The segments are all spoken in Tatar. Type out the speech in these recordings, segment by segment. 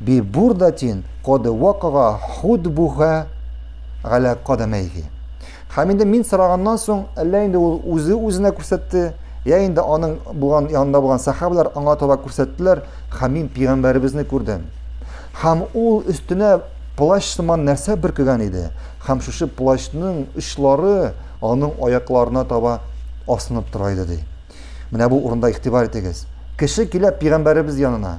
Бе бурдатин коде вакыга худ буһа галә кадамәйхи. Һәм инде мин сораганнан соң, әллә инде ул үзе үзенә күрсәтте, я инде аның булган янында булган сахабалар аңа таба күрсәттеләр, һәм мин пигамбәребезне күрдем. Һәм ул өстенә плащ сыман нәрсә бөркегән иде, һәм шушы плащның очлары аның аякларына таба асынып тора иде ди. Менә бу урында игътибар итегез. Кеше килә пигамбәребез янына.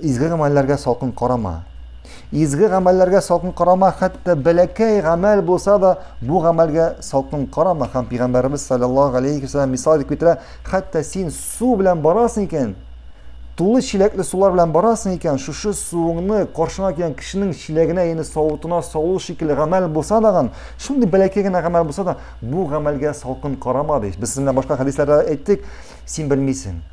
Изге гамәлләргә салкын карама. Изге гамәлләргә салкын карама, хәтта бәләкәй гамәл булса да, бу гамәлгә салкын карама. Һәм Пәйгамбәребез саллаллаһу алейхи ва саллям мисал итеп китерә, хәтта син су белән барасың икән, тулы чиләкле сулар белән барасың икән, шушы суыңны каршыңа килгән кешенең чиләгенә, яни савытына салу шикелле гамәл булса даган, шундый бәләкәй генә гамәл булса да, бу гамәлгә салкын карама ди. Без сезнең башка хәдисләрдә әйттек, син белмисең.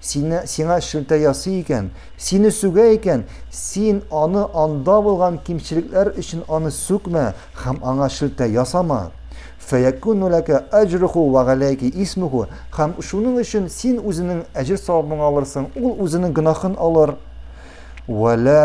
Сине, сиңа шелтә ясый икән, сине сүгә икән, син аны анда булган кимчелекләр өчен аны сүкмә һәм аңа шелтә ясама. Фәякуну ләкә әҗруху вә галәйки исмуху, һәм шуның өчен син үзенең әҗер-савабыңны алырсың, ул үзенең гөнаһын алыр. Вә лә